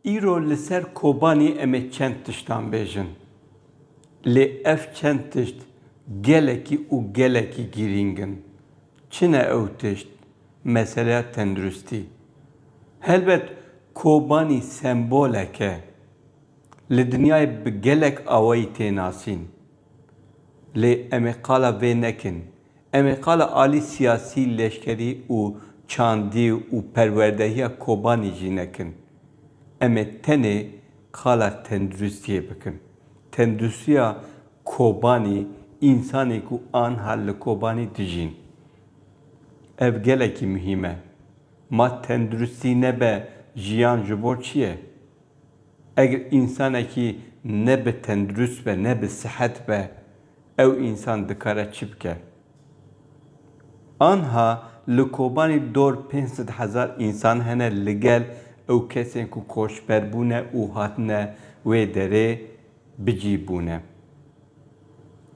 Îro li ser Kobanî em ê çend tiştan bêjin. Lê ev çend tişt gelekî û gelekî girîng in. Çi ne ew tişt? Meseleya tenduristî. Helbet Kobanî sembolek e. Li dinyayê bi gelek awayî tê nasîn. Lê em ê qala vê nekin. Em ê qala alî siyasî, leşkerî û çandî û perwerdehiya Kobanî jî nekin. Em ê tenê qala tenduristiyê bikin. Tenduristiya Kobanî însanê ku anha li Kobanî dijîn. Ev gelekî muhîm e. Ma tenduristî nebe jiyan ji bo çi ye? Eger însanekî ne bi tendurist be, ne bi sihet be, ew însan dikare çi bike? Anha li Kobanî dor pênc sed hezar însan hene li gel ew kesên ku koçber bûne û hatine wê derê bicî bûne.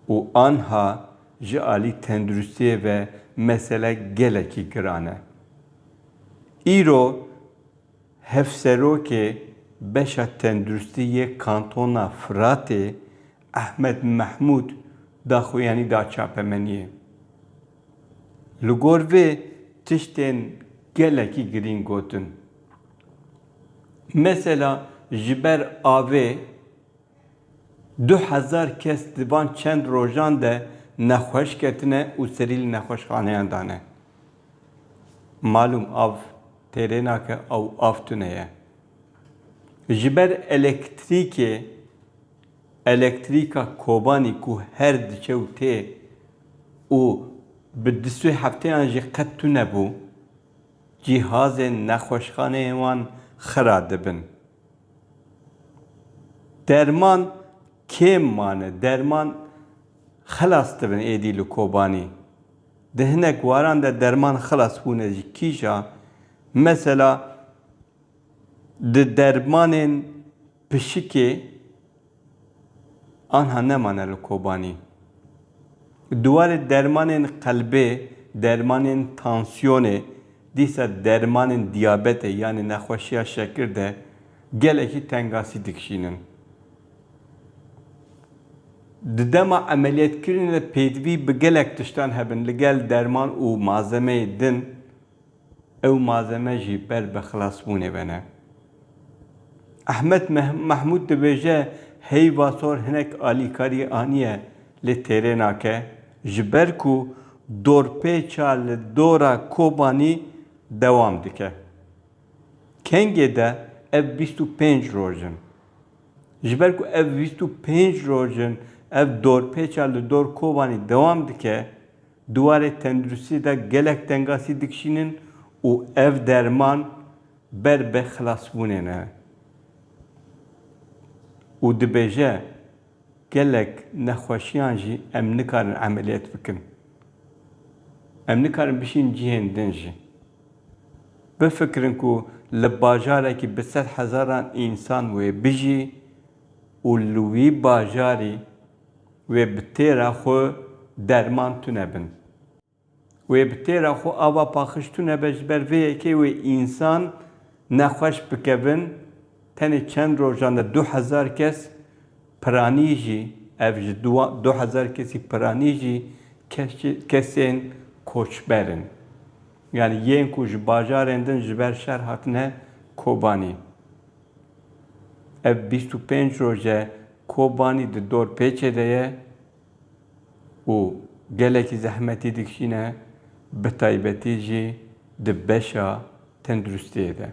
Û anha ji alî tenduristiyê ve mesele gelekî giran e. Îro. Hevserokê beşa tenduristî yê kantona Firatê Ehmed Mehmûd daxuyanî da çapemeniyê. Li gor vê tiştên gelekî girîng gotin. Mesela ji ber avê du hezar kes di van çend rojan de nexweş ketine û serî li nexweşxaneyan dane. Malûm av Terêna ke ew av tune ye. Ji ber elektrîkê, elektrîka Kobanî ku her diçe û tê û bi du sê hefteyan jî qet tune bû, cîhazên nexweşxaneyên wan xira dibin. Derman kêm mane, derman xilas dibin êdî li Kobanî. Di hinek waran de derman xilas bûne ji kîja. Mesela di dermanên pişikê anha nemane li Kobanî. Di warê dermanên qelbê, dermanên tansiyonê, dîsa dermanên diyabetê yanî nexweşiya şekir de gelekî tengasî dikişînin. Di dema emeliyetkirinê de pêdivî bi gelek tiştan hebin li gel derman û malzemeyê din, ew malzeme jî ber bi xilasbûnê ve ne. Ehmed Mehmûd dibêje heyva sor hinek alîkarî aniye lê têrê nake ji ber ku dorpêça li dora Kobanî dewam dike. Kengê de ev bîst û pênc roj in Ji ber ku ev vîst û pênc roj in ev dorpêça li dor Kobanî dewam dike, di warê tenduristiyê de gelek tengasî dikişînin û ev derman ber bi xilasbûnê ne û dibêje, Gelek nexweşiyan jî em nikarin emeliyet bikin. Em nikarin bişînin cihên din jî. Bifikirin ku li bajarekî bi sed hezaran însan wê bijî û li wî bajarî wê bi têra xwe derman tune bin. Wê bi têra xwe ava paxij tune be ji ber vê yekê wê însan nexweş bikevin, tenê çend rojan de du hezar kes Piranî jî, ev ji du du hezar kesî piranî jî keşê kesên koçber in. Yanî yên ku ji bajarên din ji ber şer hatine Kobanî. Ev bîst û pênc roj e Kobanî di dorpêçê de ye û gelekî zehmetî dikişîne bi taybetî jî di beşa tenduristiyê de.